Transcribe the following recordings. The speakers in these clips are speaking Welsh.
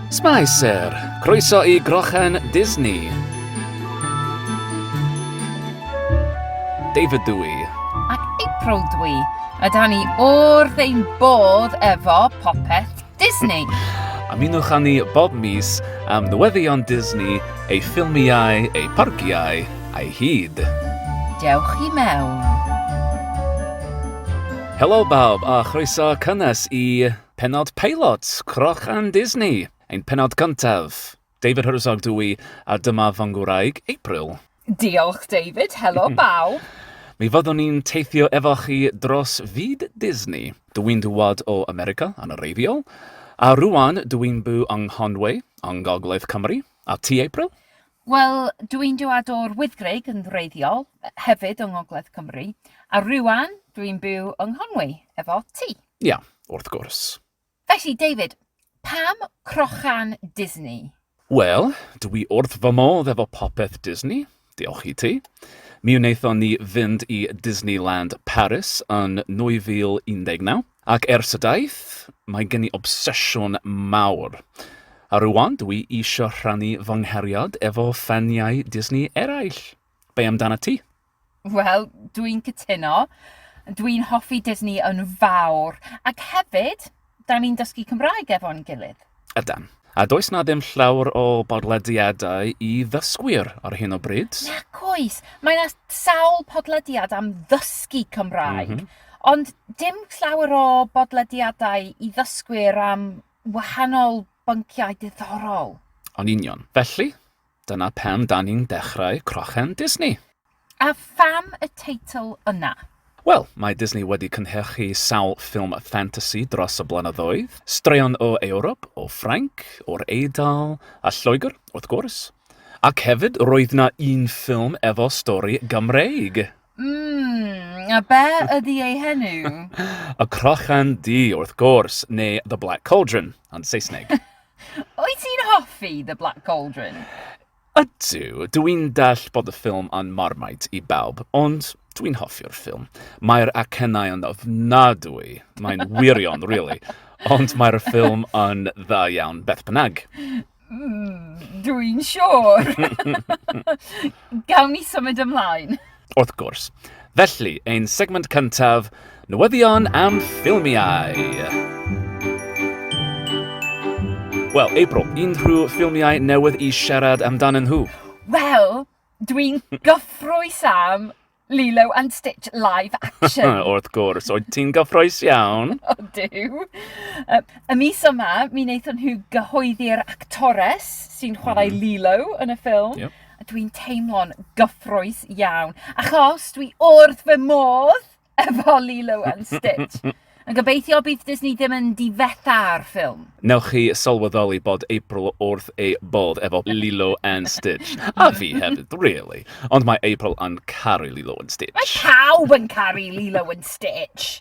Spicer, croeso i Grochen Disney. David dw i. Ac April dw i. A da ni o'r ein bodd efo popeth Disney. Ymunwch â ni bob mis am newyddion Disney, ei ffilmiau, ei parciau a'i hyd. Dewch i mewn. Helo bawb a chroeso cynnes i... Pennod peilot Croch and Disney, ein pennod cyntaf. David Herzog dw i, a dyma fy ngwraig, April. Diolch, David. Helo, bawb. Mi fyddwn ni'n teithio efo chi dros fyd Disney. Dw i'n dŵad o America, yn wreiddiol, a rŵan dw i'n byw yng Nghonway, yng Ngogledd Cymru. A ti, April? Wel, dw i'n dŵad o'r Wyddgrug, yn wreiddiol, hefyd yng Ngogledd Cymru, a rŵan dw i'n byw yng Nghonway efo ti. Ia, wrth gwrs. Felly, David, pam crochan Disney? Wel, dw i wrth fy modd efo popeth Disney, diolch i ti. Mi wnaethon ni fynd i Disneyland Paris yn 2019, ac ers y daith, mae gen i obsesiwn mawr. A rwan, dw i eisiau rhannu fy nghariad efo ffaniau Disney eraill. Be amdanat ti? Wel, dwi'n cytuno. Dwi'n hoffi Disney yn fawr. Ac hefyd, da ni'n dysgu Cymraeg efo'n gilydd. Ydan. A does na ddim llawer o bodlediadau i ddysgwyr ar hyn o bryd. Nac oes. Mae na sawl podlediad am ddysgu Cymraeg. Mm -hmm. Ond dim llawer o bodlediadau i ddysgwyr am wahanol bynciau diddorol. O'n union. Felly, Dyna pam da ni'n dechrau Crochan Disney. A pham y teitl yna? Wel, mae Disney wedi cynhyrchu sawl ffilm ffantasi dros y blynyddoedd, straeon o Ewrop, o Ffrainc, o'r Eidal, a Lloegr, wrth gwrs. Ac hefyd, roedd 'na un ffilm efo stori Gymreig! Mmm, a be ydi ei henw? y Crochan Du, wrth gwrs, neu The Black Cauldron, yn Saesneg. Wyt ti'n hoffi The Black Cauldron? Ydw, dw i'n dall bod y ffilm yn Marmite i bawb, ond dw i'n hoffi'r ffilm. Mae'r acennau yn ofnadwy, mae'n wirion, really, ond mae'r ffilm yn dda iawn beth bynnag. Mm, dw i'n siŵr. Gawn ni symud ymlaen. Wrth gwrs. Felly, ein segment cyntaf, newyddion am ffilmiau. Wel, April, unrhyw ffilmiau newydd i siarad amdanyn nhw? Wel, dwi'n gyffrous am Lilo and Stitch live action. Wrth gwrs, oedd ti'n gyffroes iawn. o, diw. Y mis yma, mi wnaethon nhw gyhoeddi'r actores sy'n chwarae mm. Lilo yn y ffilm. Yep. A dwi'n teimlo'n gyffroes iawn, achos dwi wrth fy modd efo Lilo and Stitch. Yn gobeithio bydd Disney ddim yn difetha ar ffilm. Newch chi sylweddoli bod April wrth ei bodd efo Lilo and Stitch. A fi hefyd, really. Ond mae April yn caru Lilo and Stitch. Mae pawb yn caru Lilo and Stitch!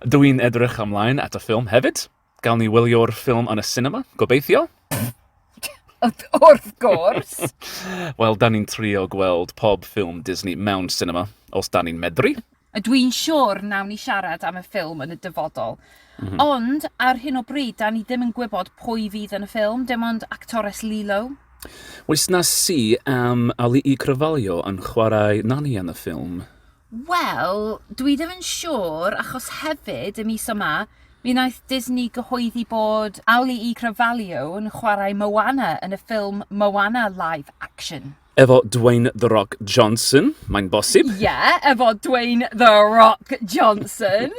Dw i'n edrych ymlaen at y ffilm hefyd. Gawn ni wylio'r ffilm yn y sinema, gobeithio? Wrth gwrs! Wel, da ni'n trio gweld pob ffilm Disney mewn sinema, os da ni'n medru. A dwi'n siwr nawn ni siarad am y ffilm yn y dyfodol. Mm -hmm. Ond, ar hyn o bryd, da ni ddim yn gwybod pwy fydd yn y ffilm, dim ond actores Lilo. Oes na si am Ali'i Cryfalio yn chwarae Nani yn y ffilm? Wel, dwi ddim yn siŵr, achos hefyd, y mis yma, mi wnaeth Disney gyhoeddi bod Ali'i Cryfalio yn chwarae Moana yn y ffilm Moana Live Action. Efo Dwayne The Rock Johnson, mae'n bosib? Ie, yeah, efo Dwayne The Rock Johnson.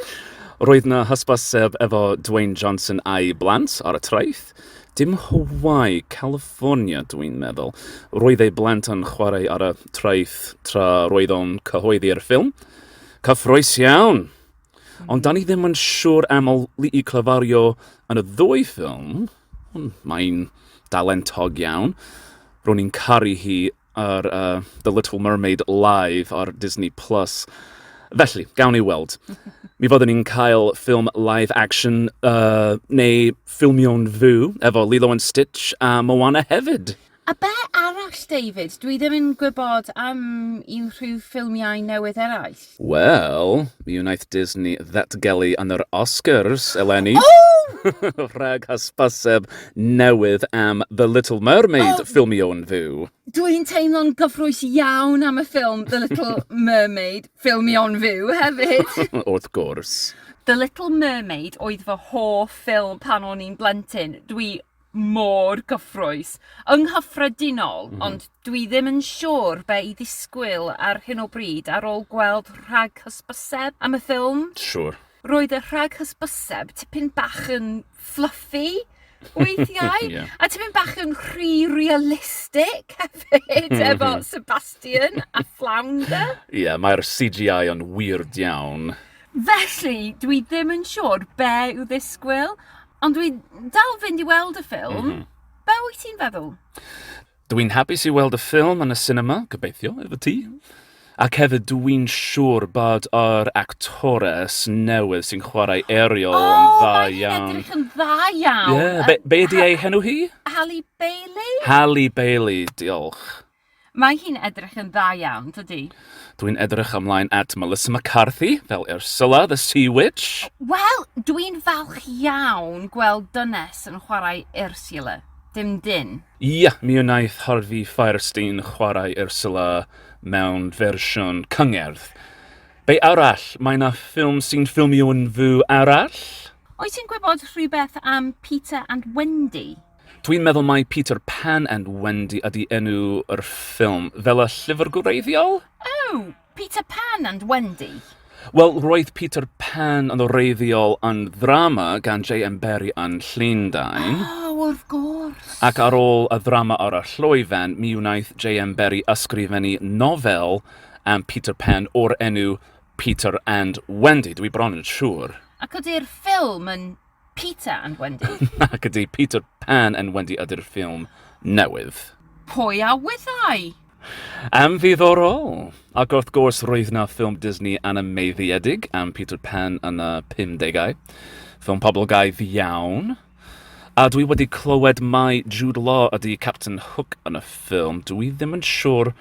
Roedd na hysbyseb efo Dwayne Johnson a'i blant ar y traeth. Dim Hawaii, California, dwi'n meddwl. Roedd ei blant yn chwarae ar y traeth tra roedd o'n cyhoeddi'r ffilm. Cyffroes iawn! Ond da ni ddim yn siŵr am Li'i clyfario yn y ddwy ffilm. Mae'n dalentog iawn. Ro'n i'n caru hi ar uh, The Little Mermaid live ar Disney+. Plus. Felly, gawn ni weld. Mi fyddwn ni'n cael ffilm live action uh, neu ffilmio'n fyw efo Lilo and Stitch a Moana hefyd. A be arall David? Dwi ddim yn gwybod am unrhyw ffilmiau newydd eraill. Wel, mi wnaeth Disney ddatgelu yn yr Oscars eleni rhag hysbyseb newydd am The Little Mermaid, ffilm Ieuan Fyw. Dwi'n teimlo'n gyffrous iawn am y ffilm The Little Mermaid, ffilm Ieuan Fyw hefyd. Wrth gwrs. The Little Mermaid oedd fy hoff ffilm pan o'n i'n blentyn. Dwi mor gyffrous yng nghyffredinol, ond dwi ddim yn siŵr be' i ddisgwyl ar hyn o bryd ar ôl gweld rhag hysbyseb am y ffilm. Siŵr. Roedd y rhag hysbyseb tipyn bach yn fluffy weithiau. Ie. A tipyn bach yn rhy realistic hefyd efo Sebastian a Flounder. Ie, mae'r CGI yn weird iawn. Felly, dwi ddim yn siŵr be' i'w ddisgwyl, Ond dwi dal fynd i weld y ffilm. Mm -hmm. Be wyt ti'n feddwl? Dwi'n hapus i weld y ffilm yn y cinema, gobeithio, efo ti. Ac hefyd, dwi'n siŵr bod yr actores newydd sy'n chwarae Ariel oh, yn dda iawn. O, mae'n edrych yn dda iawn. Yeah. Be, be di ei henw hi? Halle Bailey. Halle Bailey, diolch. Mae hi'n edrych yn dda iawn, dydi? Dwi'n edrych ymlaen at Melissa McCarthy fel Ursula the Sea Witch. Wel, dwi'n falch iawn gweld dynes yn chwarae Ursula. Dim dyn. Ia, mi wnaeth Harvey Fierstein chwarae Ursula mewn fersiwn cyngerdd. Be' arall? Mae 'na ffilm sy'n ffilmio yn fyw arall? Wyt ti'n gwybod rhywbeth am Peter and Wendy? Dwi'n meddwl mai Peter Pan and Wendy ydi enw yr ffilm, fel y llyfr gwreiddiol? Oh! Peter Pan and Wendy? Wel, roedd Peter Pan yn wreiddiol yn ddrama gan JM Barrie yn Llundain. Oh, wrth gwrs! Ac ar ôl y ddrama ar y llwyfan, mi wnaeth JM Barrie ysgrifennu nofel am Peter Pan o'r enw Peter and Wendy, dwi bron yn siŵr. Ac ydi'r ffilm yn Peter and Wendy. Nac ydy, Peter Pan and Wendy ydy'r ffilm newydd. Pwy a wyddai? Am ddiddorol! Ac wrth gwrs, roedd na ffilm Disney anymeddiedig am Peter Pan yn y 50au. Ffilm poblogaidd iawn. A dwi wedi clywed mai Jude Law ydy Captain Hook yn y ffilm. Dwi ddim yn siŵr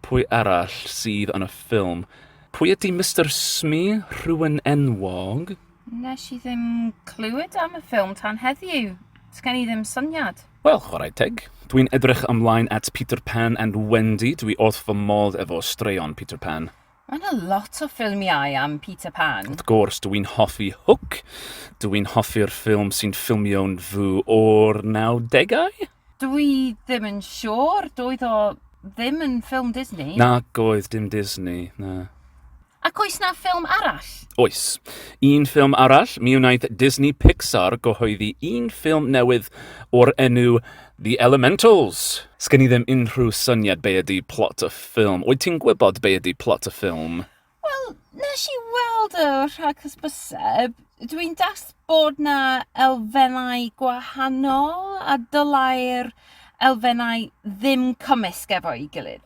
pwy arall sydd yn y ffilm. Pwy ydy Mr Smee? Rhywun enwog? Nes i ddim clywed am y ffilm tan heddiw. Sgen i ddim syniad. Wel, chwarae teg. Dwi'n edrych ymlaen at Peter Pan and Wendy, dwi wrth fy modd efo straeon Peter Pan. Mae yna lot o ffilmiau am Peter Pan. Wrth gwrs, dwi'n hoffi Hook, dwi'n hoffi'r ffilm sy'n ffilmio'n fwy o'r 90au? Dwi ddim yn siŵr, doedd o ddim yn ffilm Disney. Nac oedd, dim Disney, na. Ac oes na ffilm arall? Oes. Un ffilm arall, mi wnaeth Disney Pixar gyhoeddi un ffilm newydd o'r enw The Elementals. Sgen i ddim unrhyw syniad be ydy plot y ffilm. Wyt ti'n gwybod be ydy plot y ffilm? Wel, nes i weld y rhaghysbyseb, dwi'n das bod na elfennau gwahanol a dylai'r elfennau ddim cymysg efo'i gilydd.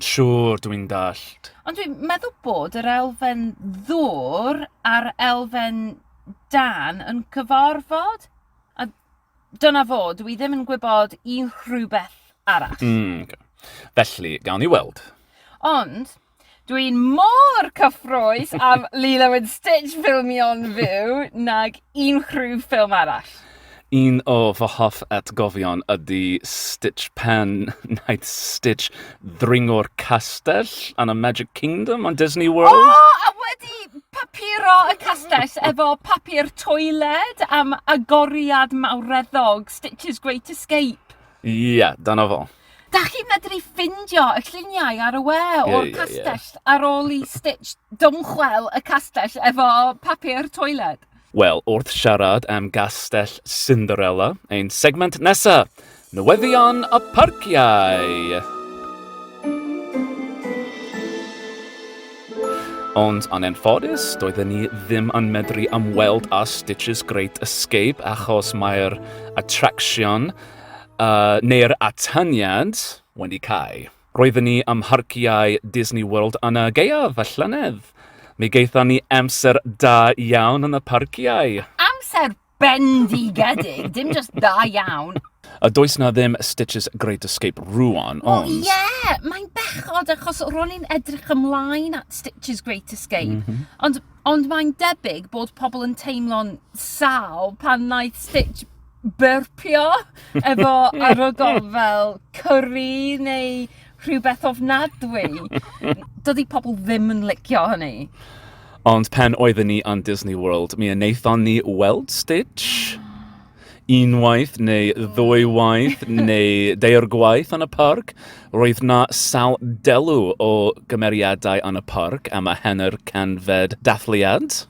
Siŵr, dwi'n dallt. Ond dwi'n meddwl bod yr elfen ddwr a'r elfen dan yn cyfarfod. A dyna fo, dwi ddim yn gwybod un rhywbeth arall. Mm, okay. Felly, gawn ni weld. Ond, dwi'n mor cyffroes am Lilo and Stitch ffilmio'n fyw nag unrhyw ffilm arall. Un o fy hoff atgofion ydy Stitch pan wnaeth Stitch ddringo'r castell yn y Magic Kingdom yn Disney World. O! A wedi papuro y castell efo papur toiled am agoriad mawreddog Stitch's Great Escape. Ie, dyna fo. Dach chi'n medru ffindio y lluniau ar y we o'r castell ar ôl i Stitch dymchwel y castell efo papur toiled? Wel, wrth siarad am Gastell Cinderella, ein segment nesa, newyddion y parciau! Ond yn anffodus, doedden ni ddim yn medru ymweld â Stitch's Great Escape achos mae'r attraction uh, neu'r atyniad wedi cael. Roedden ni ym mharciau Disney World yn y gaeaf y llynedd. Mi gaethon ni amser da iawn yn y parciau. Amser bendigedig, dim just da iawn. A does na ddim Stitch's Great Escape rwan, ond... Wel, ie, yeah, mae'n bechod achos ro'n i'n edrych ymlaen at Stitch's Great Escape, mm -hmm. ond, ond mae'n debyg bod pobl yn teimlo'n sal pan wnaeth Stitch byrpio efo arogl fel cyrri neu rhywbeth ofnadwy. Dydy pobl ddim yn licio hynny. Ond pen oedden ni yn Disney World, mi wnaethon ni weld Stitch unwaith neu ddwy waith neu deir gwaith yn y parc. Roedd na sawl delw o gymeriadau yn y parc am y henr canfed dathliad.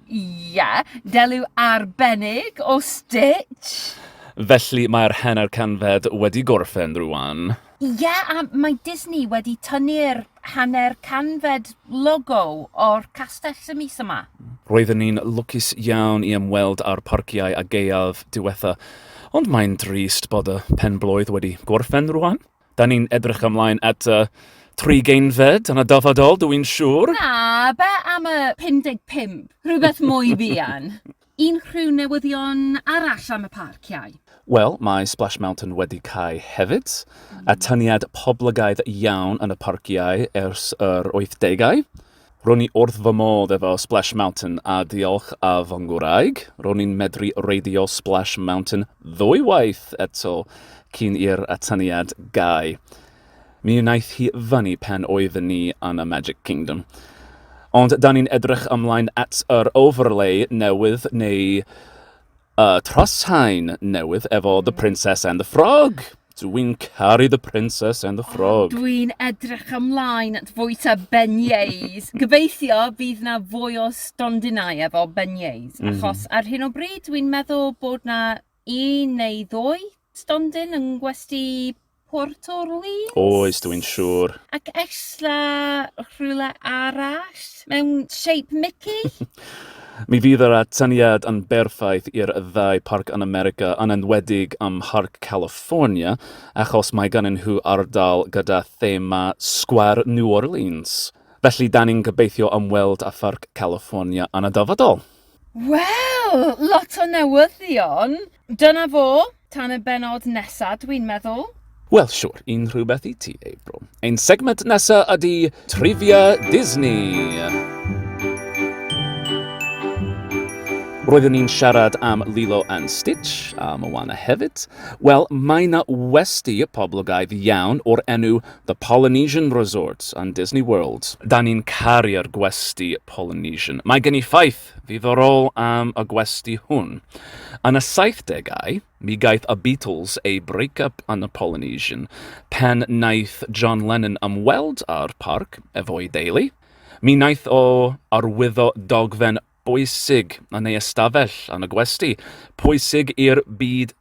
Ie, deliw arbennig o stitch! Felly mae'r hanner canfed wedi gorffen rwan. Ie, a mae Disney wedi tynnu'r hanner canfed logo o'r castell y mis yma. Roedden ni'n lwcus iawn i ymweld â'r parciau a gaeaf diwetha, ond mae'n drist bod y pen-blwydd wedi gorffen rwan. Da ni'n edrych ymlaen at y trigeunfed yn y dyfodol, dw i'n siŵr. Na, be am y 55? Rhywbeth mwy buan. Unrhyw newyddion arall am y parciau? Wel, mae Splash Mountain wedi cau hefyd. Atyniad poblogaidd iawn yn y parciau ers yr wythdegau. Ro'n i wrth fy modd efo Splash Mountain a diolch a fy ngwraig, ro'n i'n medru reidio Splash Mountain ddwy waith eto cyn i'r atyniad gau. Mi wnaeth hi fyny pan oedden ni yn y Magic Kingdom. Ond 'dan ni'n edrych ymlaen at yr overlay newydd neu Y Troshain newydd efo The Princess and the Frog! Dw i'n caru The Princess and the Frog. Dw i'n edrych ymlaen at fwyta beignets. Gobeithio fydd na fwy o stondinau efo beignets, achos ar hyn o bryd dw i'n meddwl bod na un neu ddwy stondin yng ngwesty Port Orleans. Oes, dw i'n siŵr. Ac ella rhywle arall mewn shape Mickey? Mi fydd yr atyniad yn berffaith i'r ddau parc yn America, yn enwedig ym Mharc California, achos mae gannyn nhw ardal gyda thema Sgwâr New Orleans. Felly, 'da ni'n gobeithio ymweld â Pharc California yn y dyfodol. Wel! Lot o newyddion! Dyna fo, tan y bennod nesa, dwi'n meddwl. Wel, siwr, un rhywbeth i ti, April. Ein segment nesa ydy Trivia Disney! Roeddwn ni'n siarad am Lilo and Stitch, a Moana hefyd. Wel, mae na westi poblogaidd iawn o'r enw The Polynesian Resort yn Disney World. Da ni'n caru'r gwesti Polynesian. Mae gen i ffaith ddiddorol am y gwesty hwn. Yn y 70au, mi gaeth y Beatles eu break-up yn y Polynesian pan wnaeth John Lennon ymweld â'r parc efo'i deulu. Mi wnaeth o arwyddo dogfen bwysig yn ei ystafell yn y gwesty, pwysig i'r byd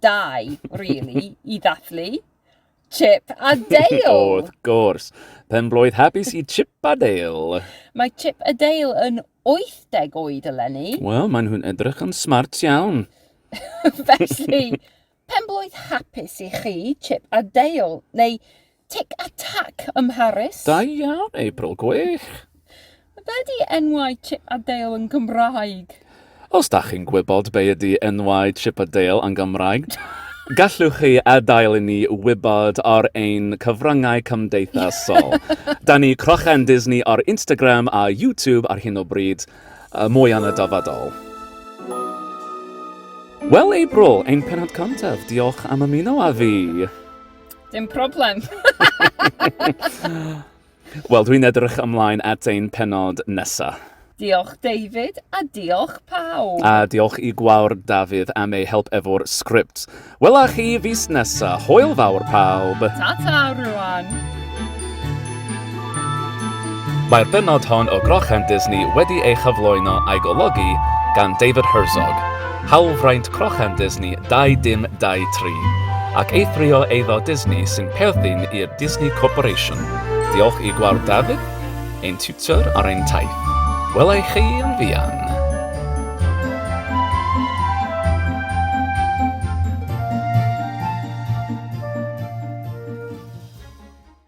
dau, really, i ddathlu. Chip a Dale! o, wrth gwrs. Pen blwydd hapus i Chip a Dale. Mae Chip a Dale yn 80 oed eleni. Wel, maen nhw'n edrych yn smart iawn. Felly, pen blwydd hapus i chi, Chip a Dale, neu Tic a Tac ym Mharis. Da iawn, April, gwych! Be di enwau Chip a Dale yn Gymraeg? Os da chi'n gwybod be ydi enwau Chip a Dale yn Gymraeg, Gallwch chi adael i ni wybod ar ein cyfryngau cymdeithasol. da ni Crochen Disney ar Instagram a YouTube ar hyn o bryd. Uh, mwy yn y dyfodol. Wel, April, ein penod cyntaf, diolch am ymuno â fi. Dim problem. Wel, dwi'n edrych ymlaen at ein penod nesaf. Diolch David a diolch pawb. A diolch i gwawr Dafydd am ei help efo'r sgript. Wela chi fis nesa. Hwyl fawr pawb. Ta-ta rwan. Mae'r bennod hon o Grochan Disney wedi ei chyflwyno a'i golygu gan David Herzog, hawlfraint Crochan Disney 2023, ac eithrio eiddo Disney sy'n perthyn i'r Disney Corporation. Diolch i Gwawr Dafydd, ein tiwtor ar ein taith. Wela i chi yn fuan!